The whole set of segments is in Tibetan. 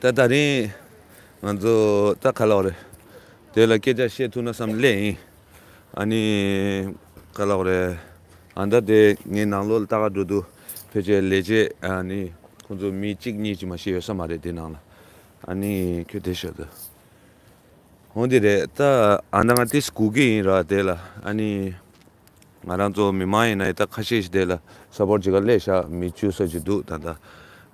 ད་ད་རིང་ང་ཚོ་རྩ་ཁ་ལག་རེད། དེ་ལ་སྐད་ཆ་བཤད་ཐུབ་ན་བསམ་བསླད་ཡིན། ཨ་ནི། ཁ་ལག་རེད། ཨ་མདའ་དེ་ངའི་ནང་ལོག་ལ་ལྟ་ག་འགྲོ་འདུག་ཕལ་ཆེར་ལས་བྱེད་ཨ་ནི་ཁོང་ཚོ་མི་གཅིག་གཉིས་ཀྱིས་མ་ཤེས་ཡོད་ས་མ་རེད་དེ་ནང་ལ། ཨ་ནི་ཁྱོད་དེ་ཤོད་དུ། ཧོན་དེ་རེད་ད་ཨ་མདའ་ང་ཏིས་གུ་གི་ཡིན་ར་དེ་ལ་ཨ་ནི། ང་རང་ཚོ་མི་མང་ཡིན་ན་ཡི་དྭགས་ཁ་ཤས་ཤིག་བསྡད་ལ་ས་ཕོར་གཅིག་ག་ལས་ཞག་མི་བཅུ་སོ་གཅིག་འདུག་ད་ལྟ།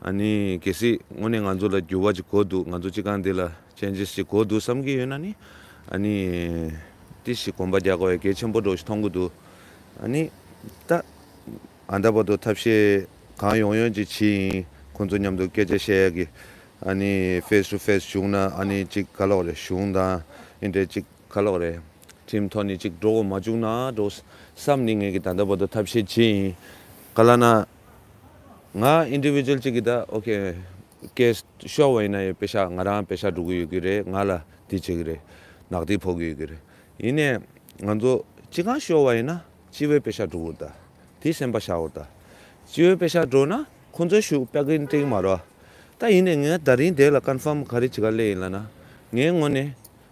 ཨ་ནི་གལ་སྲིད་དངོས་གནས་ང་ཚོ་ལ་འགྱུར་བ་གཅིག་གོ་འདུག་ང་ཚོ་སྤྱི་ཁང་འདི་ལ changes གཅིག་གོ་འདུག་བསམ་གྱི་ཡོད་ན་ནི། ཨ་ནི། ཏི་ཞིག་གོམ་པ་རྒྱག་དགོས་ཡ་གལ་ཆེན་པོ་འགྲོ་ཞིག་མཐོང་གི་འདུག་ཨ་ནི། ད་ཨ་འདྲ་བ་དོ་ཐབས་ཤེས་གང་ཡོང་ཡོང་གཅིག་ཇི་ཡིན་ཁོང་ཚོ་མཉམ་དུ་སྐད་ཆ་བཤད་ཡ་གི། ཨ་ནི face to face བཞུགས་ན་ཨ་ནི་གཅིག་ཁ་ལོག་རེད་གཞུང་དང་ཨི་འདྲས་གཅིག་ཁ་ལོག་རེད། ཁྲིམས་ཐོག་ནས་ཅིག་འགྲོ་འོང་མ་བཅུག་ན་འགྲོ། བསམ་ནི་ངེས་ཀྱི་ད་ལྟ་བར་དུ་ཐབས་ཤེས་བྱེད་ཡིན། ག་ལ་ན། ང Individual ཅིག་གིས་ད ok Case ཤོར་བ་ཡིན་ན་ཡང་བེ་ཤ་ང་རང་བེ་ཤ་འགྲོ་གི་ཡོད་ཀྱི་རེད་ང་ལ་དེ་བྱེད་ཀྱི་རེད། ནག་ཐིག་ཕོག་གི་ཡོད་ཀྱི་རེད། ཡིན་ནས་ང་ཚོ་ཅི་གང་ཤོར་བ་ཡིན་ན་སྤྱི་བོའི་བེ་ཤ་འགྲོ་འོ་ད། དེ་སེམས་པ་ཤའོ་ད། སྤྱི་བོའི་བེ་ཤ་འགྲོ་ན་ཁོང་ཚོའི་ཞུགས་པ་གི་འགྲིག་མ་རོ། ད་ཡིན་ནས་ངས་ད་རིང་དེ་ལ Confirm ག་རེ་བྱེད་ག་ལེ་ཡིན་ལ་ན་ངའི་ངོ་ནས།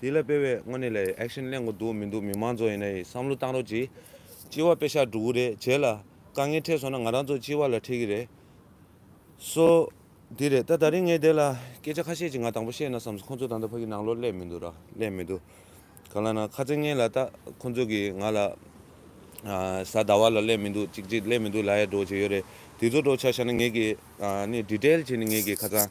དེ་ལ་དཔེ་བས་དངོས་གནས་ལ action གླེང་དགོས་འདུག་མི་འདུག་མི་མང་ཚོ་ཡིན་ན་ཡིན་བསམ་བློ་བཏང་རོགས་གྱིས། སྤྱི་བ་དཔེ་ཤག་སྒྲུག་གི་རེད་བྱས་ལ། དཀའ་ངལ་འཕྲད་སོང་ན་ང་རང་ཚོ་སྤྱི་བ་ལ་འཕྲད་ཀྱི་རེད། སོ། དེ་རེད་ད་ད་རིང་ངས་དེ་ལ་སྐད་ཆ་ཁ་ཤས་ཅིག་ང་དང་པོ་བཤད་ན་བསམ་སོང་ཁོང་ཚོ་ད་ལྟ་ཕ་གི་ནང་ལོག་སླེབས་མི་འདུག་ར་སླེབས་མི་འདུག་ག་ལ་ན་ཁ་ཚེ་ངན་ལ་ལྟ་ཁོང་ཚོ་གིས་ང་ལ། གཟའ་ཟླ་བ་ལ་སླེབས་མི་འདུག་ཅིག་ཅིག་སླེབས་མི་འདུག་ལ་ཡ་སྒྲོག་བྱས་ཡོད་རེད་དེ་ཚོ་སྒྲོག་ཆ་ཤར་ན་ངེད་ཀྱིས་ནི་འདྲི་བྲལ་བྱས་ནས་ངེད་ཀྱིས་ཁ་ཚང།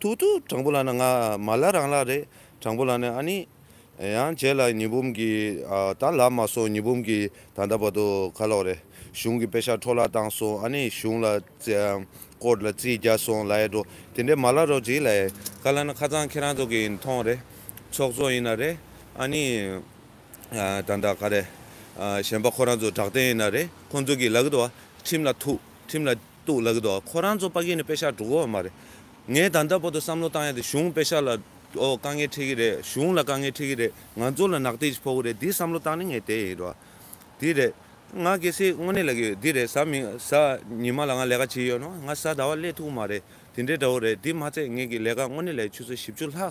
ཐུག་ཐུག་དྲང་པོ་ལ་ནི་ང་མ་ལ་རང་ལ་རེད་དྲང་པོ་ལ་ནི་ཨ་ནི། ཡང་བྱས་ལ་ཉི་འབུམ་གྱི་ད་ལ་མ་སོང་ཉི་འབུམ་གྱི་ད་ད་བར་དུ་ཁ་ལོག་རེད་གཞུང་གི་དཔེ་ཤ་འཕྲོ་བརླག་བཏང་སོང་ཨ་ནི་གཞུང་ལ་ཀོར་ལ་རྩིས་རྒྱག་སོང་ལ་ཡེ་འགྲོ་དེ་འདྲས་མ་ལ་རོགས་གྱིས་ལ་ཡེ་ཁ་ལ་ནི་ཁ་ཚང་ཁྱེད་རང་ཚོ་གིས་མཐོང་རེད་ཚོགས་གཙོ་ཡིན་ན་རེད་ཨ་ནི། ད་ད་ག་རེད་གཞན་པ་ཁོ་རང་ཚོ་དྲག་བདེན་ཡིན་ན་རེད་ཁོང་ཚོ་གིས་ལ་གི་དོ་བ་ཁྲིམས་ལ་ཐུག་ཁྲིམས་ལ། གཏུག་ལགས་འདུག་ཁོ་རང་ཚོ་དཔའ་སྐད་ནི་དཔེ་ཤག་དྲུག་འོག་མ་རེད། ངས་ད་ལྟ་བོ་དུ་བསམ་བློ་བཏང་ཡ་དེ་གཞུང་དཔེ་ཤག་ལ་དཀའ་ངལ་འཕྲད་ཀྱི་རེད་གཞུང་ལ་དཀའ་ངལ་འཕྲད་ཀྱི་རེད་ང་ཚོ་ལ་ནག་ཐིག་ཅིག་ཕོག་གི་རེད་དེ་བསམ་བློ་བཏང་ནི་ངས་དེ་ཡིན་རོགས། དེ་རེད། ང་གལ་སྲིད་དངོས་གནས་ལ་གི་འདི་རེད་གཟའ་མི་གཟའ་ཉི་མ་ལ་ང་ལས་ཀ་བྱེད་ཡོད་ནོ་ང་གཟའ་ཟླ་བ་སླད་ཐུག་མ་རེད་དེ་འདྲའི་འདྲ་བོ་རེད་དེ་མ་ཚད་ངས་གི་ལས་ཀ་དངོས་གནས་ལ་ཡི་ཆུ་ཚོད་བཞི་བཅུ་ལྷག་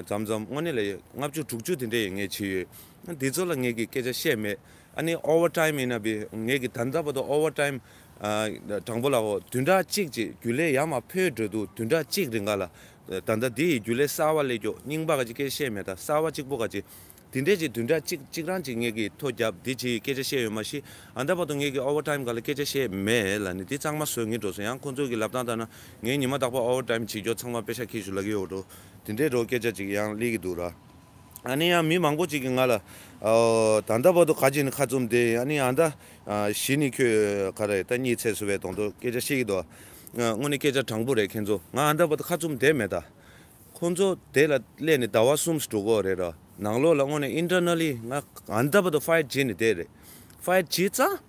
ཙམ་ཙམ་དངོས་གནས་ལ་ཡི་ལྔ་བཅུ་དྲུག་བཅུ་དེ་འདྲ་ཡི་ངས་བྱེད་ཡོད་དེ་ཚོ་ལ་ངས་གི་སྐད་ཆ་བཤད་མེད་ཨ་ནི Over Time ཡིན་ན་བི་ངས་གི་ད་ལྟ་བོ་དུ Over Time དྲང་པོ་ལ་ཧོ། དུད་འགྲ་གཅིག་ཅེས་རྒྱུད་ལས་ཡ་མ་ཕོའི་འགྲོས་འདུག་དུད་འགྲ་གཅིག་རེ་འགའ་ལ། ད་ལྟ་འདི་ཡི་རྒྱུད་ལས་གསར་བ་ཀླད་ཀྱོག་རྙིང་པ་ག་ཅི་སྐད་བཤད་མེད་ད་གསར་བ་གཅིག་པོ་ག་ཅི། དེ་འདྲས་ཀྱི་དུད་འགྲ་གཅིག་གཅིག་རང་གཅིག་ངེད་ཀྱིས་ཐོ་རྒྱབ་འདི་ཇི་ཡི་སྐད་ཆ་བཤད་ཡོད་མ་གཞི་ཨ་མདའ་བར་དུ་ངེད་ཀྱིས་ཨོ་བྷར་ཏཱིམ་ག་ལ་སྐད་ཆ་བཤད་མེད་ལ་ནི་འདི་གཙང་མ་བཟོས་ངེས་འགྲོ་སོང་ཡང་ཁོ་ཚོས་ཀྱི་ལབ་སྟངས་ལྟར་ན་ངས་ཉི་མ་རྟག་པར་ཨོ་བྷར་ཏཱིམ་བྱེད་རྒྱོ་ཚང་མ་དཔེ་ཤག་ཁྱེར་ཞུ་ལ་གི་ཡོད་འགྲོ་དེ་འདྲས་རོ་སྐད་ཆ་ཅིག་ཡང་གླེད་ཀྱི་འདུག་ར། ཨ་ནི་ཡང་མི་མང་པོ་ཅིག་གིས་ང་ལ། ད་ལྟ་བར་དུ་ག་ཅིག་ནི་ཁ་བཙུམས་ཏེ་ཨ་ནི་ཨ་ད། གཞི་ནི་ཁྱོད་ག་རེད་ད་གཉིད་ཚད་སུ་བའི་དོང་དུ་སྐད་ཆ་བཤད་ཀྱི་འདུག་དངོས་ནི་སྐད་ཆ་དྲང་པོ་རེད་ཁྱེད་ཚོ་ང་ཨ་ད་བར་དུ་ཁ་བཙུམས་བསྡད་མེད་ད། ཁོ་ཚོ་དེ་ལ་སླད་ནི་ཟླ་བ་གསུམ་ཟ་དྲུག་གོ་རེད་རོ་ནང་ལོགས་ལ་དངོས་ནི Internally ང་ཨ་ད་བར་དུ Fight བྱས་ནི་བསྡད་རེད Fight བྱས་ཙང།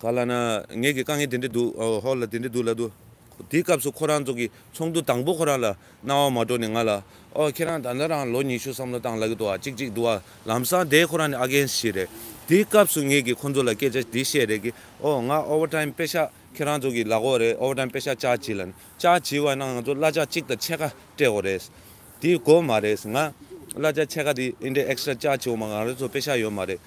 ག་ལ་ན། ངེད་ཀྱི་དཀའ་ངལ་དེ་འདྲ་འདུག་ཨོ་ཧོ་ལ་དེ་འདྲ་འདུག་ལབ་འདུག། དེའི་སྐབས་སུ་ཁོ་རང་ཚོ་གི་ཚོགས་འདུ་དང་པོ་ཁོ་རང་ལ་གནང་བ་མ་འགྲོ་ནས་ང་ལ། ཨོ་ཁྱེད་རང་ད་ལྟ་རང་ལོ་ཉི་ཤུ་བསམ་བློ་བཏང་ལ་གི་འདུག་ཨ་ཅིག་ཅིག་འདུག་ཨ། ལམ་སང་དེ་ཁོ་རང་ནི་ཨ་རྒན་ཞིག་རེད། དེའི་སྐབས་སུ་ངེད་ཀྱིས་ཁོ་ཚོ་ལ་སྐད་ཆ་འདི་བཤད་རེས་ཀི། ཨོ་ང Over Time དཔེ་ཤག་ཁྱེད་རང་ཚོ་གི་ལག་འོག་རེད Over Time དཔེ་ཤག་བཅར་བྱེད་ལ་ནི། བཅར་བྱེད་བ་ན་ང་ཚོ་གླ་ཆ་གཅིག་དང་ཕྱེད་ཀ་སྤྲད་འོ་རེད། དེའི་གོ་མ་རེད། ང། གླ་ཆ་ཕྱེད་ཀ་དེ་ཨིན་དྲའི Extra བཅར་བྱེད་འོ་མ་ང་རང་ཚོ་དཔེ་ཤག་ཡོད་མ་རེད།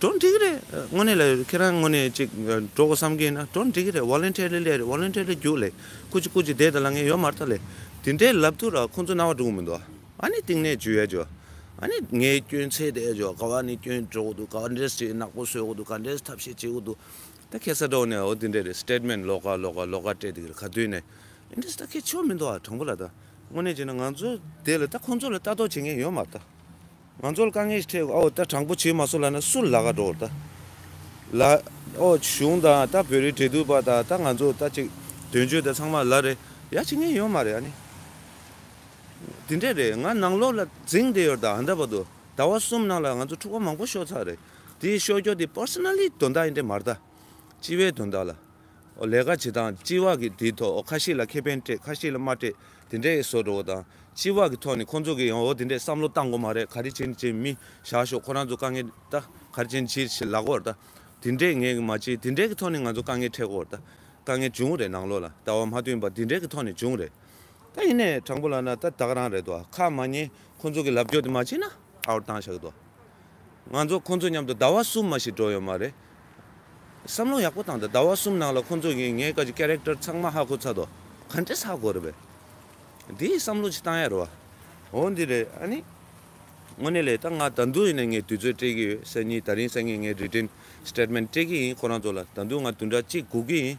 གྲོགས་འགྲིག་རེད་དངོས་གནས་ལ་ཁྱེད་རང་དངོས་གནས་ཅིག་འགྲོ་གོ་བསམ་གྱིན་ན་གྲོགས་འགྲིག་རེད Volunteer ལི་ལས་རེད Volunteer ལི་རྒྱུགས་ལས་ཁུ་ཅི་ཁུ་ཅི་དེ་དང་ལ་ངས་ཡོད་མ་རྟ་ལས་དེ་འདྲའི་ལབ་ཐུ་ར་ཁོང་ཚོ་རྣ་བ་འགྲུག་མི་འདུག་ཨ་ནི་གཏིང་ནས་ཇུས་ཡས་ཇོ་ཨ་ནི་ངས་སྐྱོན་ཚད་དེ་ཇོ་ག་བ་ནི་སྐྱོན་འགྲོ་གོ་འདུག་ག་བ་འདྲས་ཅིག་ནག་པོ་བཟོས་གོ་འདུག་ག་འདྲས་ཐབས་ཤེས་བྱེད་གོ་འདུག་ད་ཁྱེད་ས་གྲོགས་ནས་འོ་དེ་འདྲས་རེད Statement ལོག་ཀ་ལོག་ཀ་ལོག་ཀ་སྤྲད་དེ་གིར་ག་དུས་ནས་ཨིན་འདྲས་ད་ཁྱེད་ཆོ་མི་འདུག་ཨ་དྲང་པོ་ལ་ད་དངོས་གནས་ཅིག་ན་ང་ཚོ་དེ་ལ་ད་ཁོང་ཚོ་ལ་ལྟ་རྟོག་བྱེད་མཁན་ཡོད་མ་རྟ། ང་ཚོར་དཀའ་ངལ་ཞིག་འཕྲད་འོ་ད་དྲང་པོ་བྱེད་མ་སོང་ལ་ན་སུ་ལ་ག་འགྲོ་ད་ལ་ཨོ་གཞུང་དང་ད་བོད་རིགས་འབྲེལ་གཏུག་པ་དང་ད་ང་ཚོ་ད་ཅིག་དོན་གཅོད་དེ་ཚང་མ་ལ་རེ་ཡ་བྱེད་མཁན་ཡོད་མ་རེད་ཨ་ནི་དེ་འདྲས་རེད་ང་ནང་ལོག་ལ་རྫིང་དེ་ཡོད་ད་འདྲ་བ་དུ་ཟླ་བ་གསུམ་ནང་ལ་ང་ཚོ་འཁྲུག་པ་མང་པོ་ཤོར་ཚར་རེད་དེ་ཤོར་རྒྱོ་དེ Personally དོན་དག་ཡིན་འདྲས་མ་རེད་ད་སྤྱི་བའི་དོན་དག་ལ་ལས་ཀ་བྱེད་སྟངས་སྤྱི་བག་གིས་དེའི་ཐོག་ཁ་ཤས་ལ་ཁེ་ཕན་སྤྲད་ཁ་ཤས་ལ་མ་སྤྲད་དེ་འདྲས་བཟོ་འགྲོ་བ་དང། སྤྱི་བག་གི་ཐོག་ནས་ཁོང་ཚོ་གིས་ཡང་འོ་དེ་འདྲས་བསམ་བློ་བཏང་གོ་མ་རེད་ག་རེ་བྱེད་ནི་བྱེད་མི་བཞག་ཤོག་ཁོ་རང་ཚོ་དཀའ་ངལ་ད་ག་རེ་བྱེད་ནི་བྱེད་ལག་གོ་ད་དེ་འདྲས་ངས་མ་བྱས་དེ་འདྲས་ཀྱི་ཐོག་ནས་ང་ཚོ་དཀའ་ངལ་འཕྲད་གོ་ད་དཀའ་ངལ་འབྱུང་གི་རེད་ནང་ལོགས་ལ་ད་བ་མ་བསྟུན་པར་དེ་འདྲས་ཀྱི་ཐོག་ནས་འབྱུང་གི་རེད། ད་ཡིན་ནའི་དྲང་པོ་ལབ་ན་ད་བདག་རང་རེད་དོ་ཁ་མ་ཉན་ཁོང་ཚོ་གིས་ལབ་རྒྱོ་དེ་མ་བྱས་ན་ཨའོ་བཏང་བཞག་གི་དོ། ང་ཚོ་ཁོང་ཚོ་མཉམ་དུ་ཟླ་བ་གསུམ་མ་ཞིག་འགྲོགས་ཡོད་མ་རེད། བསམ་བློ་ཡག་པོ་བཏང་སྟེ་ཟླ་བ་གསུམ་ནང་ལ་ཁོང་ཚོ་གིས་ངའི་ཀ་གི Character ཚང་མ་ཧ་གོ་ཚར་དོ། ག་འདྲས་ཧ་གོ་རེད་བས། དེའི་བསམ་བློ་ཅིག་བཏང་ཡ་རེད་བ། འོ་འདི་རེད་ཨ་ནི། དངོས་གནས་ལས་ད་ང་ད་དུང་ཡིན་ན་ངས་དུས་ཚོད་སྤྲད་ཀྱི་ཡོད་སེ་གཉིས་ད་རིང་སང་ཉིན་ངས Written Statement སྤྲད་ཀྱི་ཡིན་ཁོ་རང་ཚོ་ལ་ད་དུང་ང་དུས་འདྲ་གཅིག་སྒུག་གི་ཡིན།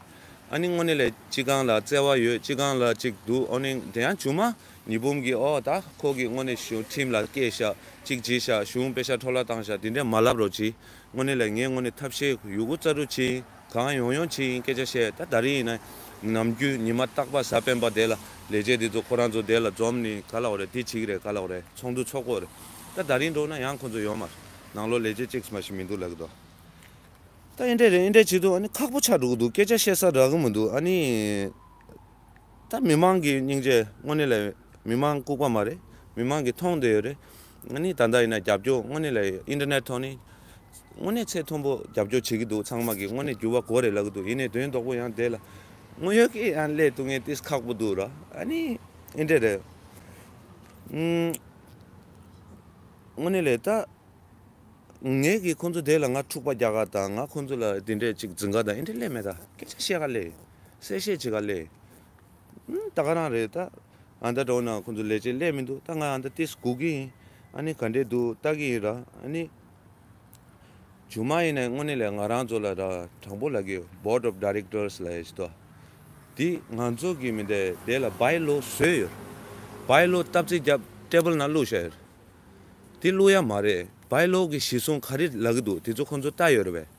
ཨ་ནི་དངོས་གནས་ལས་ཅི་གང་ལ་བརྩེ་བ་ཡོད་ཅི་གང་ལ་ཅིག་འདུག་འོ་ནི་དེ་ཡང་ཇུ་མ། ཉི་འབུམ་གྱི་ཨོ་ད་ཁོ་གིས་དངོས་གནས་ཞུ་ཁྲིམས་ལ་སྐད་བཤད་ཅིག་བགྱིས་ཤག་གཞུང་དཔེ་ཤག་འཕྲོ་བརླག་བཏང་ཤག་དེ་འདྲས་མ་ལབ་རོགས་གྱིས་དངོས་གནས་ལས་ངས་དངོས་གནས་ཐབས་ཤེས་ཡོད་གུ་རྩ་དྲུག་ཅིག་གང་ཡོང་ཡོང་ཅིག་ཡིན་སྐད་ཆ་བཤད་ད་ད་རིང་ཡིན་ན་ནམ་རྒྱུན་ཉི་མ་རྟག་པ་གཟའ་སྤེན་པ་དེ་ལ་ལས་བྱེད་དེ་ཚོ་ཁོ་རང་ཚོ་བསྡད་ལ་འཛོམས་ནི་ག་ལ་འོ་རེད་དེ་ཅིག་རེད་ག་ལ་འོ་རེད་ཚོགས་འདུ་ཚོགས་དགོས་རེད་ད་ད་རིང་འགྲོ་ན་ཡང་ཁོ་ཚོ་ཡོད་མ་རེད་ནང་ལོག་ལས་བྱེད་ཅིག་མ་ཞིག་མི་འདུག་ལགས་དོ། ད་ཨེ་འདྲས་རེད་ཨེ་འདྲས་བྱེད་དུ་ཨ་ནི་ཁག་པོ་ཆགས་འགྲོ་གི་འདུག་སྐད་ཆ་བཤད་ས་རག་གི་མི་འདུག་ཨ་ནི། ད་མི་མང་གི་སྙིང་རྗེ་དངོས་གནས་ལ་མི་མང་ལྐུག་པ་མ་རེད་མི་མང་གི་མཐོང་འདོད་ཡོད་རེད་ང་ནི་ད་ལྟ་ཡིན་ན་རྒྱབ་སྐྱོར་དངོས་གནས་ལ Internet ཐོག་ནས་དངོས་གནས་ཚད་མཐོན་པོ་རྒྱབ་སྐྱོར་བྱེད་ཀྱི་འདུག་ཚང་མ་གི་དངོས་གནས་འགྱུར་བ་གོ་རེ་ལབ་ཀྱི་འདུག་ཡིན་ནའི་དོན་རྡོག་པོ་ཡང་དེ་ལ་དངོས་ཡོད་ཀྱི་ཡང་སླད་དུ་ངས་ཏིས་ཁག་པོ་འདུག་ར་ཨ་ནི Internet རེད་དངོས་གནས་ལས་ད་ངས་གི་ཁོང་ཚོ་དེ་ལ་ང་འཁྲུག་པ་རྒྱག་ག་དང་ང་ཁོང་ཚོ་ལ་དེ་འདྲས་ཅིག་འཛིན་ག་དང Internet ལས་མེད་ད་སྐད་ཆ་བཤད་ག་ལས། གསལ་བཤད་བྱེད་ག་ལས། ད་ག་རང་རེད་ད། ཨ་མདའ་གྲོགས་ནང་ཁོང་ཚོ་ལས་བྱེད་ལས་མི་འདུག་ད་ང་ཨ་མདའ་ཏིས་སྒུག་གི་ཡིན། ཨ་ནི་ག་འདྲས་འདུག་ལྟ་གི་ཡིན་ར་ཨ་ནི། ཇུ་མ་ཡིན་ནས་དངོས་གནས་ལས་ང་རང་ཚོ་ལ་ར་དྲང་པོ་ལ་གི Board of Directors ལ་ཡིས་ཏོ། དེ་ང་ཚོ་གི་མི་འདའི་དེ་ལ By Law བཟོས་ཡོད། By Law སྟབས་བརྩི་རྒྱབ Table ནང་བླུགས་བཞག་ཡོད། དེ་བླུགས་ཡ་མ་རེད By Law གི་གཞི་བཟུང་ག་རེ་ལ་གི་འདུག་དེ་ཚོ་ཁོང་ཚོ་ལྟ་ཡོད་རེད་བས།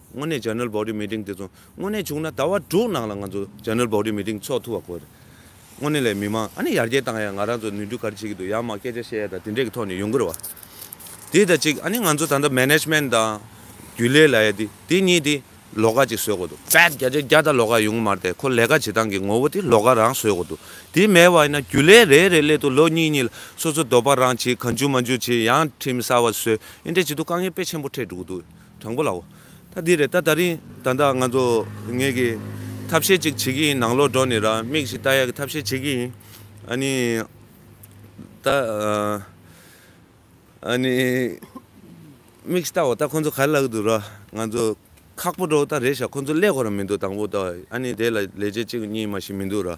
དངོས་གནས General Body Meeting དེ་ཚོ་དངོས་གནས་བྱུང་ན་ཟླ་བ་དྲུག་ནང་ལ་ང་ཚོ General Body Meeting འཚོགས་ཐུབ་པ་དགོས་རེད། དངོས་གནས་ལས་མི་མང་ཨ་ནི་ཡར་རྒྱས་བཏང་ཡག་ང་རང་ཚོ་ནུས་མཐུ་ག་རེ་བྱེད་ཀྱི་འདུག་ཡང་མང་སྐད་ཆ་བཤད་ཡག་དང་དེ་འདྲས་ཀྱི་ཐོག་ནས་ཡོང་གི་རེད་བ། དེ་དང་གཅིག་ཨ་ནི་ང་ཚོ་ད་ལྟ Management དང། རྒྱུན་ལས་ལ་ཡ་དེ་དེ་གཉིས་དེ་ལོག་ཀ་ཅིག་བཟོས་དགོས་འདུག་བེད་རྒྱ་ཆེན་བརྒྱ་དང་ལོག་ཀ་ཡོང་གི་མ་རེད་དེ་ཁོ་ལས་ཀ་བྱེད་སྟངས་ཀྱི་ངོ་བོ་དེ་ལོག་ཀ་རང་བཟོས་དགོས་འདུག་དེ་མེད་བ་ཡིན་ན་རྒྱུན་ལས་རེ་རེ་སླེ་དུ་ལོ་གཉིས་གཉིས་ལ་སོ་སོ་འདོད་པ་རང་བྱེད་ག་འཇུག་མ་འཇུག་བྱེད་ཡང་ཁྲིམས་གསར་བ་བཟོས་ཨེ་འདྲས་བྱེད་དུ་དཀའ་ངལ་དཔེ་ཆེན་པོ་འཕྲད་འགྲོ་གི་འདུག། དྲང་པོ་ལའོ། ད་འདི་རེད་ད་ད་རིང་ད་ད་ང་ཚོ་ངེད་ཀྱི་ཐབས་ཤེས་ཅིག་བྱེད་ཀྱི་ཡིན་ནང་ལོག་འགྲོ་ནས་ར་མིག་ཞིག་བལྟ་ཡག་གི་ཐབས་ཤེས་བྱེད་ཀྱི་ཡིན། ཨ་ནི། ད། ཨ་ནི། མིག་ཞིག་བལྟའོ་ད་ཁོ་ཚོ་ག་ལ་གི་འདུག་ར་ང་ཚོ་ཁག་པོ་འགྲོ་ད་རེད་ཞག་ཁོ་ཚོ་ཀླད་ཁོ་ར་མི་འདུག་དང་པོ་ད་ཨ་ནི་དེ་ལ་ལས་བྱེད་ཅིག་གཉིས་མ་ཞིག་མི་འདུག་ར།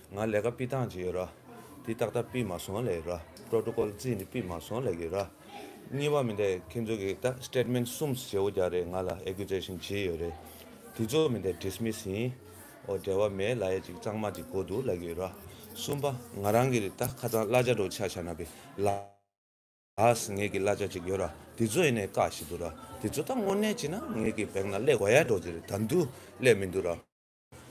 ང་ལས་ཀ་སྤི་ཐང་ཇི་ཡོད་ར། དེ་ཏག་ཏག་སྤི་མ་སོང་ལས་ཀི་ར། Protocol རྩིས་ནི་སྤི་མ་སོང་ལས་ཀི་ར། གཉིས་པ་མི་འདེད་ཁྱེད་ཚོ་གིས་ཏག Statement གསུམ་བྱེད་འོ་རྒྱག་རེད་ང་ལ Accusation ཇི་ཡོད་རེད། དེ་ཚོ་མི་འདེད Dismiss ཡིན་འོ་འབྲེལ་བ་མེད་ལ་ཡ་ཅིག་གཙང་མ་ཅིག་གོ་འདུག་ལས་ཀི་ར། གསུམ་པ་ང་རང་གིས་ཏག་ཁ་ཚང་གླ་ཆ་འགྲོ་ཆ་ཆ་ན་པི་ལགས་ངེད་ཀི་གླ་ཆ་ཅིག་ཡོད་ར་དེ་ཚོ་ཡིན་ནས་བཀག་བཞིན་འདུག་ར་དེ་ཚོ་ཏག་དངོས་གནས་བྱེད་ན་ངེད་ཀི་བེང་ན་ལས་འོ་ཡ་འགྲོ་ཅི་རེད་ད་འདུག་ལས་མི་འདུག་ར།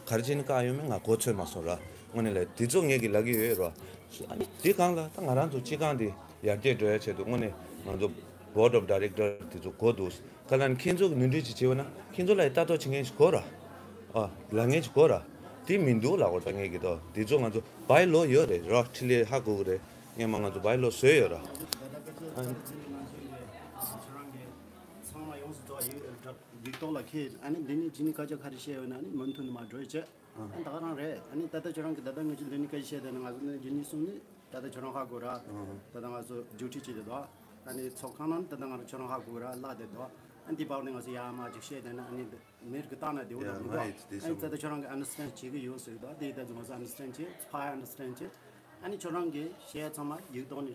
གར་སྤྱིན་བཀག་ཡོད་མེད་ང་གོ་ཚོད་མ་སོང་ར་དངོས་གནས་ལ་དེ་ཚོ་ངེད་ཀྱི་ལག་གི་ཡོད་རོ། དེ་གང་ལ་ད་ང་རང་ཚོ་སྤྱི་ཁང་དེ་ཡར་རྒྱས་འགྲོ་ཡ་ཆེད་དུ་དངོས་གནས་ང་ཚོ Board of Director དེ་ཚོ་གོ་འདུག་ཁ་ལ་ནི་ཁྱེད་ཚོ་གི་ནུས་འདོད་ཅིག་བྱེད་འོས་ན་ཁྱེད་ཚོ་ལ་ཡི་ལྟ་རྟོག་བྱེད་མཁན་ཞིག་གོ་ར་ཨ་ལ་ངན་ཞིག་གོ་ར་དེ་མི་འདུག་ལ་འོ་ད་ངེད་ཀྱི་ཏོ་དེ་ཚོ་ང་ཚོ་བའི་ལོ་ཡོད་རེད་རོ་ཁྲི་ལེ་ཧ་གོ་གི་རེད་ངེད་མ་ང་ཚོ་བའི་ལོ་བཟོས་ཡོད་ར། ཚང་མ་ཡོངས་སུ་རྫོགས་ཡིན་ཨེ་དྲག། འདི་རྟོགས་ལ་མཁས་ཨ་ནི་འདི་ནི་ཇི་ནི་བཀའ་རྒྱ་ག་རེ་བཤད་ཡོད་ན་ནི་མུ་མཐུད་ནི་མ་བགྲོས་ཅེས་ཨ་ནི་ད་ག་རང་རེད་ཨ་ནི་ད་ལྟ་ཁྱོད་རང་གི་ད་ལྟ་ངོས་ཀྱི་ལུས་ནི་བཀའ་ཡི་ཤེས་དེ་ནི་ང་ཚོ་ནི་རྒྱུ་གཉིས་གསུམ་ནི་ད་ལྟ་ཁྱོད་རང་ཧ་གོ་ར་ད་ལྟ་ང་ཚོ་རྒྱུགས་ཁྲིད་བྱེད་དེ་དོ་ཨ་ནི་ཚོགས་ཁང་ནང་ནི་ད་ལྟ་ང་རང་ཁྱོད་རང་ཧ་གོ་ར་བཀླགས་དེ་དོ་ཨ་ནི་འདི་བག་ནི་ང་ཚོ་ཡ་མ་གཅིག་བཤད་དེ་ནི་ཨ་ནི་མིར་གི་བཏང་ན་དེ་འོ་ན་མི་འགྲོ་ཨ་ནི་ད་ལྟ་ཁྱོད་རང་གི understand བྱེད་ཀྱི་ཡོད་ཟེར་གི་དོ་དེ་ཡི་ད་ཚུ་ང་ཚོ understand བྱེད་ཕ་ཡ understand བྱེད་ཨ་ནི་ཁྱོད་རང་གི་བཤད་ཚང་མ་ཡིག་ཐོག་ནི།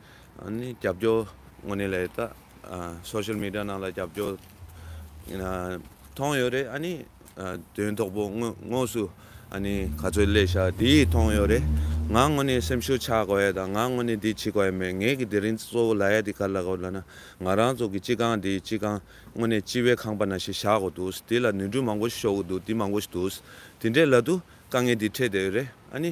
རྒྱབ་སྐྱོར་དངོས་གནས་ལས་ད Social Media ནང་ལ་རྒྱབ་སྐྱོར་མཐོང་ཡོད་རེད་ཨཱ་ནི་དོན་དོག་པོ་དངོས་སུ་ཨཱ་ནི་ག་ཚོད་སླེ་ཤ་དེ་མཐོང་ཡོད་རེད་ང་དངོས་གནས་སེམས་ཤུགས་ཆགས་དགོས་ཡ་དང་ང་དངོས་གནས་འདི་བྱེད་དགོས་ཡ་མེད་ངེད་ཀྱི་དེ་རིང་གཙོ་བོ་ལ་ཡ་དེ་ག་ལ་དགོས་ལ་ན་ང་རང་ཚོ་གི་སྤྱི་ཁང་དེ་སྤྱི་ཁང་དངོས་གནས་སྤྱི་བའི་ཁང་པ་ན་ཞིག་བཞག་དགོས་འདུག་དེ་ལ་ནུས་འདྲུ་མང་པོ་ཞིག་ཤོར་དགོས་འདུག་དེ་མང་པོ་ཞིག་འདུག་དེ་འདྲའི་ལ་དུ་དཀའ་ངལ་དེ་འཕྲད་བསྡད་ཡོད་རེད་ཨཱ་ནི།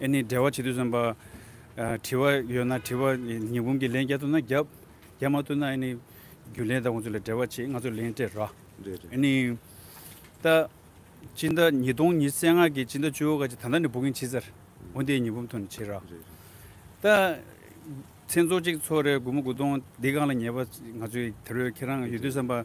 ཨེ་ནི་འབྲེལ་བ་བྱེད་དུས་སོན་པ། དྲི་བ་ཡོད་ན་དྲི་བ་ཉིས་འབུམ་གྱི་ལན་བརྒྱ་ཐུབ་ན་བརྒྱབ། བརྒྱབ་མ་ཐུབ་ན་ཨེ་ནི། རྒྱུ་ལས་དང་ཁོང་ཚོ་ལས་འབྲེལ་བ་བྱེད་ང་ཚོ་ལན་སྤྲད་ར། ཨེ་ནི། ད། སྤྱི་ཟླ་ཉིས་སྟོང་ཉིས་བརྩེགས་ལྔ་གི་སྤྱི་ཟླ་བཅུ་བོ་ག་ཅིག་ད་ལྟ་ནས་འབུ་གིན་བྱེད་ཚར། འོན་ཏེ་ཉིས་འབུམ་ཐོན་ནས་བྱེད་ར། ད། ཚེ་འཚོ་གཅིག་འཚོ་རེ་དགུ་མོ་དགུ་སྟོང་འདི་གང་ལ་ཉེས་པ་ང་ཚོས་དེ་རོས་ཁྱེད་རང་ཡོད་དུས་སོན་པ།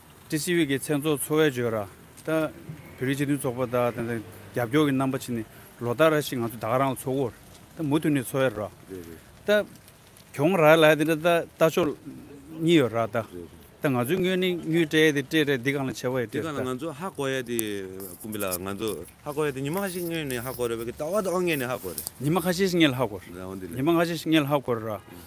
ཀྲི་སི་ཝི་ཀི་མཚན་ཚོགས་འཚོ་བའི་བརྗོད་ར་དང། བོད་རིགས་སྤྱི་མཐུན་ཚོགས་པ་དག་དང་དང་རྒྱབ་སྐྱོར་གྱི་རྣམ་པ་ཕྱེ་ནས་ལོ་ཟླ་ར་ཞིག་ང་ཚོ་དགའ་རང་ལ་འཚོ་བར་དང་མུ་མཐུད་ནས་འཚོ་བའི་ར་དང། གྱོང་ར་ལ་དེ་འདྲ་ལྟ་ཕྱོགས་གཉིས་ཡོད་ར་དང། དང་ང་ཚོའི་དངོས་ནི་དངུལ་སྤྲད་དེ་སྤྲད་སྤྲད་འདི་གང་ལ་ཆེ་བ་ཡི་སྤྲད་སོ་ད། ཚོ་ཧ་གོ་ཡ་དེ་ཀུམ་པི་ལ་ང་ཚོ་ཧ་གོ་ཡ་དེ་ཉི་མ་ཁ་ཤས་སྔོན་ནས་ཧ་གོ་རེད་བ་ཀི་ད་བ་དང་བ་ངས་ནས་ཧ་གོ་རེད། ཉི་མ་ཁ་ཤས་ཤིག་ངས་ལ་ཧ་གོ་རེད། ཉི་མ་ཁ་ཤས་ཤིག་ངས་ལ་ཧ་གོ་རེད་ར།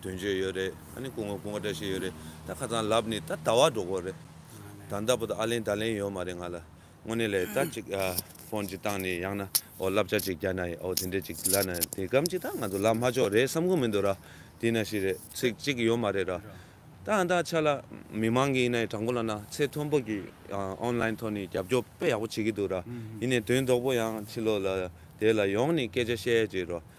དོན་བྱས་ཡོད་རེད་ད་ནི་སྐུ་ངོ་སྐུ་ངོ་འདྲ་བྱས་ཡོད་རེད་ད་ཁ་ཚང་ལབ་ནི་ད་ད་བ་འགྲོ་དགོས་རེད་ད་འདའ་པོ་ད་ཨ་ལེན་ད་ལེན་ཡོད་མ་རེད་ང་ལ་དངོས་གནས་ལས་ད་ཅིག་ཕོན་ཅིག་བཏང་ནི་ཡང་ན་འོ་བསླབ་བྱ་ཅིག་རྒྱག་ན་ཡི་འོ་དེ་འདྲས་ཅིག་ལབ་ན་དེ་གམ་ཅིག་ད་ང་ཚོ་ལབ་མ་ཆོག་རེད་བསམ་ཁུངས་མི་འདུག་ར་དེ་ན་ཞིག་རེད་ཚིག་ཅིག་ཡོད་མ་རེད་ར་ད་ཨ་འདའ་ཆ་ལ་མི་མང་གི་ཡིན་ན་ཡི་དྲང་པོ་ལབ་ན་ཚེ་མཐོན་པོ་གི online ཐོག་ནི་རྒྱབ་སྐྱོར་དཔེ་ཡག་པོ་བྱེད་ཀྱི་འདུག་ར་ཡིན་ནས་དོན་དོག་པོ་ཡང་ཕྱི་ལོག་ལ་དེ་ལ་ཡོང་ནི་སྐད་ཆ་བཤད་ཡས་ཅིག་ར།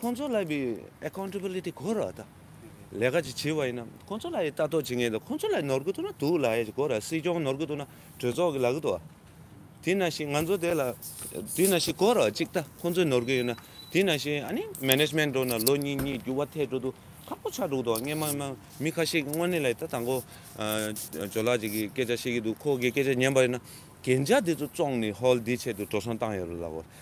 ཁོང་ཚོ་ལ་བའི Accountability གོ་ར་དང། ལས་ཀ་ཅིག་བྱེད་པ་ཡིན་ན་ཁོང་ཚོ་ལ་ལྟ་རྟོག་བྱེད་མཁན་དང་ཁོང་ཚོ་ལ་ནོར་གི་འདུག་ན་འདུག་ལ་གོ་ར་སྲིད་སྐྱོང་ནོར་གི་འདུག་ན་གྲོས་ཚོགས་ཀྱི་ལག་གི་འདུག་ཨ། དེས་ན་ཞིག་ང་ཚོ་དེ་ལ་དེས་ན་ཞིག་གོ་ར་གཅིག་ལྟ་ཁོང་ཚོས་ནོར་གི་ཡོད་ན་དེས་ན་ཞིག་ཨ་ནི Management འགྲོ་ན་ལོ་གཉིས་གཉིས་འགྱུར་བ་ཐལ་དྲོ་འདུག་ཁག་པོ་ཆགས་འགྲོ་གི་འདུག་ཨ། ངས་མི་ཁ་ཤས་ཀྱི་དངོས་གནས་ལ་ད་དང་པོ་ཇོ་ལགས་ཅིག་གི་སྐད་ཆ་བཤད་ཀྱི་འདུག་ཁོ་གི་སྐད་ཆ་ཉན་པ་ཡིན་ན་གན་རྒྱ་དེ་ཚོ་བཙོང་ནས་ཧོལ་འདི་ཆེད་དུ་འགྲོ་སོང་བཏང་ཡོད་རེད་ལགས།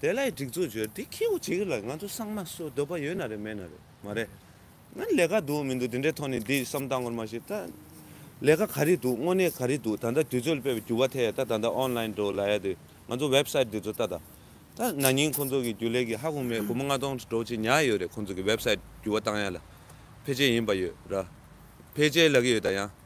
དེ་ལ་སྒྲིག་འཛུགས་བྱོས་དེ་ཁྱེའུ་གཅིག་རེད་ལ་ང་ཚོ་སངས་མ་གསོད་འདོད་པ་ཡོད་ན་རེད་མེད་ན་རེད་མ་རེད་ང་ལས་ཀ་འདུག་མི་འདུག་དེ་འདྲའི་ཐོག་ནས་འདི་བསམ་བཏང་ངོར་མ་ཤེས་ད་ལས་ཀ་ག་རེ་འདུག་དངོས་གནས་ག་རེ་འདུག་ད་ལྟ་དུས་ཚོད་སྤེལ་བའི་འགྱུར་བ་ཐད་ད་ད་ལྟ online འགྲོ་ལ་ཡ་དེ་ང་ཚོ website འདི་ཚོ་ད་ད་ད་ན་ནིང་ཁོང་ཚོ་གི་རྒྱུ་ལས་ཀྱི་ཧ་གོ་མེད་སྒོར་མོ་ལྔ་སྟོང་འགྲོ་ཆེད་ཉག་ཡོད་རེད་ཁོང་ཚོ་གི website འགྱུར་བ་བཏང་ཡ་ལ་ཕལ་ཆེར་ཡིན་པ་ཡོད་ར་ཕལ་ཆེར་ལ་གི་ཡོད་ད་ཡང།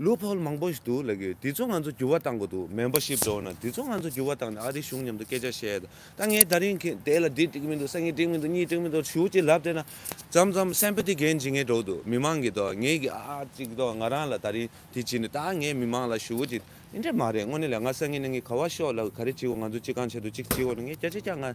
ལུས་ཕོག་མང་པོ་ཞིག་འདུག་ལབ་ཡོད་དེ་ཚོ་ང་ཚོ་འགྱུར་བ་གཏང་དགོས་འདུག་མེམ་པར་ཤིབ་འགྲོ་ན་དེ་ཚོ་ང་ཚོ་འགྱུར་བ་གཏང་ནས་ཨ་རིའི་གཞུང་མཉམ་དུ་སྐད་ཆ་བཤད་ཡོད་ད་ད་ངས་ད་རིང་གི་དེ་ལ་འདི་འགྲིག་མི་འདུག་ས་ངས་འགྲིག་མི་འདུག་གཉིས་འགྲིག་མི་འདུག་ཞུ་གཅིག་ལབ་བསྡད་ན་ཙམ་ཙམ་སེམས་པ་དེ་གན་ཇི་ངས་འགྲོ་འདུག་མི་མང་གི་ཐོག་ངས་གི་ཨ་ཨ་ཅིག་ཐོག་ང་རང་ལ་ད་རིང་དེ་བྱས་ནས་ད་ངས་མི་མང་ལ་ཞུ་གཅིག་དེ་འདྲ་མ་རེད་དངོས་གནས་ལ་ང་ས་ངན་ནས་ངས་ག་བ་ཤོག་ལ་ག་རེ་བྱེད་དགོས་ང་ཚོ་གཅིག་གང་བྱེད་འདུག་གཅིག་བྱེད་དགོས་ན་ངས་སྐད་ཆ་རྐྱང་ང་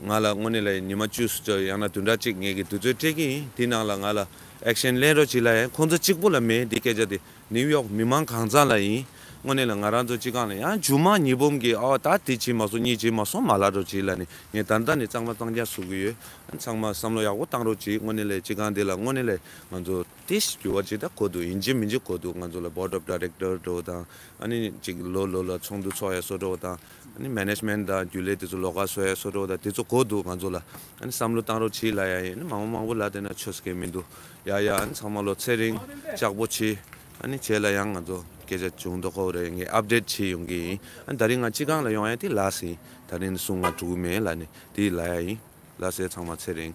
ང་ལ་དངོས་གནས་ལ་ཡིན་ཉི་མ་བཅུ་སུ་ཙོ་ཡང་ན་དུས་འདྲ་གཅིག་ངེད་ཀྱི་དུས་ཚོད་སྤྲད་ཀྱི་ཡིན་དེའི་ནང་ལ་ང་ལ action ལེན་རོགས་གྱིས་ལ་ཡང་ཁོང་ཚོ་གཅིག་པུ་ལ་མེད་དེའི་སྐད་ཆ་དེ་ནིའུ་ཡོག་མི་མང་གང་ཙམ་ལ་ཡིན་དངོས་གནས་ལ་ང་རང་ཚོ་གཅིག་གང་ལ་ཡང་ཇུ་མང་ཉི་བུམ་གྱིས་ཨོ་ད་དེ་བྱས་མ་སོང་གཉིས་བྱས་མ་སོང་མ་ལ་རོགས་གྱིས་ལ་ནི་ངས་ད་ལྟ་ནས་གཙང་མ་གཙང་རྐྱང་བཟོ་གི་ཡོད་ཚང་མ་བསམ་བློ་ཡག་པོ་བཏང་རོགས་གྱིས་དངོས་གནས་ལ་གཅིག་གང་དེ་ལ་དངོས་གནས་ལ་ང་ཚོ་ཏིས་འགྱུར་བ་གཅིག་ད་གོ་འདུག་ཡིན་གྱི་མི་འཇིག་གོ་འདུག་ང་ཚོ་ལ board of director འགྲོ་བ་དང་ཨ་ནི་གཅིག་ལོ་ལོ་ལ་ཚོགས་འདུ་ཚོགས་ཡ་སོ་འགྲོ་བ་དང། ནི Management དང་རྒྱུ་ལས་དེ་ཚོ་ལོག་ཀ་བཟོ་ཡ་སོ་ཏྲོག་དང་དེ་ཚོ་གོ་འདུག་ང་ཚོ་ལ་ཨ་ནི་བསམ་བློ་གཏང་རོགས་བྱིས་ལ་ཡ་ཡིན་ཨ་ནི་མང་བོ་མང་བོ་ལ་དེ་ན་ཆོས་སྐད་མིན་འདུག་ཡ་ཡ་ཨ་ནི་ཚང་མ་ལོ་ཚད་རིང་ལྕགས་པོ་བྱིས་ཨ་ནི་བྱས་ལ་ཡང་ང་ཚོ་སྐད་ཆ་བྱུང་འདུག་ཁོ་རེ་ངས Update བྱིས་ཡོང་གི་ཡིན་ཨ་ནི་ད་རིང་ང་སྤྱི་ཁང་ལ་ཡོང་ཡ་དེ་ལ་སིན་ད་རིང་ནི་གསུང་ང་དྲུག་མེད་ལ་ནི་དེ་ལ་ཡ་ཡིན་ལ་སེ་ཚང་མ་ཚད་རིང།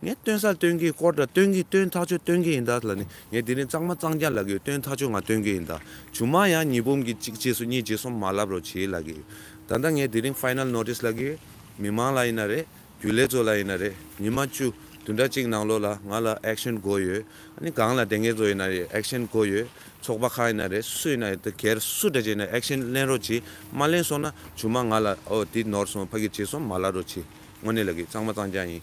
ངས་སྟོན་སར་སྟོན་གྱི་སྐོར་དང་སྟོན་གྱི་སྟོན་ཐག་ཆོད་སྟོན་གྱི་ཡིན་ད་ལ་ནི་ངས་དེ་རིང་གཙང་མ་གཙང་རྒྱ་ལ་གི་སྟོན་ཐག་ཆོད་ང་སྟོན་གྱི་ཡིན་ད་ཇུ་མ་ཡང་གཉིས་འབུམ་གྱི་གཅིག་རྗེས་སུ་གཉིས་རྗེས་སུ་མ་ལབ་རོགས་བྱེད་ལ་གི་ད་ལྟ་ངས་དེ་རིང final notice ལ་གི་མི་མང་ལ་ཡིན་ན་རེད་རྒྱུན་ལས་ཚོ་ལ་ཡིན་ན་རེད་ཉི་མ་བཅུ་དུས་འདྲ་གཅིག་ནང་ལོགས་ལ་ང་ལ action དགོས་ཡོད་ཨ་ནི་གང་ལ་དེ་ངས་ཚོ་ཡིན་ན་རེད action དགོས་ཡོད་ཚོགས་པ་ཁག་ཡིན་ན་རེད་སུ་ཡིན་ན་རེད་ད་གལ་སུ་འདྲ་བྱས་ན action ལེན་རོགས་བྱེད་མ་ལེན་སོང་ན་ཇུ་མ་ང་ལ་འོ་དེ་ནོར་སོང་ཕ་གི་རྗེས་སུ་མ་ལབ་རོགས་བྱེད་དངོས་གནས་ལ་གི་གཙང་མ་གཙང་རྒྱ་ཡིན།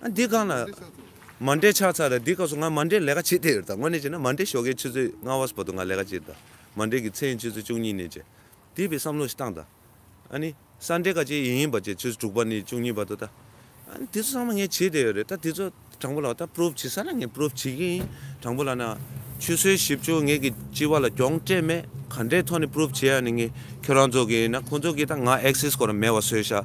འདི་གང་ལ། མ་འདྲེས་ཆགས་ཚར་ར་འདི་ག་སོ་ང་མ་འདྲེས་ལས་ཀ་བྱེད་དེ་ཡོད་ད་དངོས་གནས་བྱས་ན་མ་འདྲེས་ཞོགས་ཀའི་ཆུ་ཚོད་ལྔ་བ་སུ་བ་དུ་ང་ལས་ཀ་བྱེད་དེ་ད་མ་འདྲེས་ཀྱི་ཚེ་ཡིན་ཆུ་ཚོད་བཅུ་གཉིས་ནས་བྱས་དེ་བས་བསམ་བློ་ཞིག་བཏང་ད་ཨ་ནི་ས་འདྲེས་ཀ་ཅེ་ཡིན་ཡིན་པ་བྱས་ཆུ་ཚོད་དྲུག་པ་ནས་བཅུ་གཉིས་བར་དུ་ད་ཨ་ནི་དེ་ཚོ་ཚང་མ་ངས་བྱེད་དེ་ཡོད་རེད་ད་དེ་ཚོ་དྲང་པོ་ལགས་ད Proof བྱེད་ས་ན་ངས Proof བྱེད་ཀྱི་ཡིན་དྲང་པོ་ལགས་ན་ཆུ་ཚོད་བཞི་བཅུ་ངེད་ཀྱི་སྤྱི་བ་ལ་གྱོང་སྤྲད་མེད་ག་འདྲའི་ཐོག་ནས Proof བྱེད་ཡ་ནི་ངས་ཁྱོད་རང་ཚོ་གིས་ཡིན་ན་ཁོང་ཚོ་གིས་ད་ང Access སྐོར་མེད་བ་བཟོས་ཤག་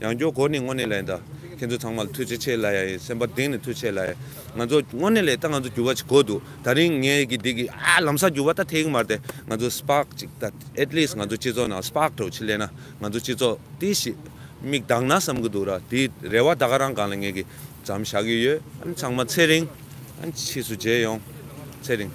ཡང་སྐྱོ་གོ་ནི་དངོས་གནས་ལན་ད། ཁྱེད་ཚོ་ཚང་མ་ལ་ཐུགས་རྗེ་ཆེ་ལ་ཡ་ཡི་སེམས་པ་གདེང་ནས་ཐུགས་ཆེ་ལ་ཡ། ང་ཚོ་དངོས་གནས་ལས་ད་ང་ཚོ་འགྱུར་བ་ཅིག་གོ་འདུག་ད་རིང་ངས་ཀྱི་འདི་གི་ཨ་ལམ་སང་འགྱུར་བ་ད་ཐེག་གི་མ་རེད་ང་ཚོ spark ཅིག་ད at least ང་ཚོ་སྤྱི་ཚོགས་ནང spark གྲོགས་ཅིག་སླེབས་ན་ང་ཚོ་སྤྱི་ཚོགས་དེ་ཞིག་དམིགས་དག་ན་བསམ་གི་འདུག་ར་དེ་རེ་བ་ད་ག་རང་གང་ལ་ངས་ཀྱི་འཛམ་བཞག་གི་ཡོད་ཨ་ཚང་མ་ཚེ་རིང་ཨ་ཕྱིས་སུ་མཇལ་ཡོང་ཚེ་རིང།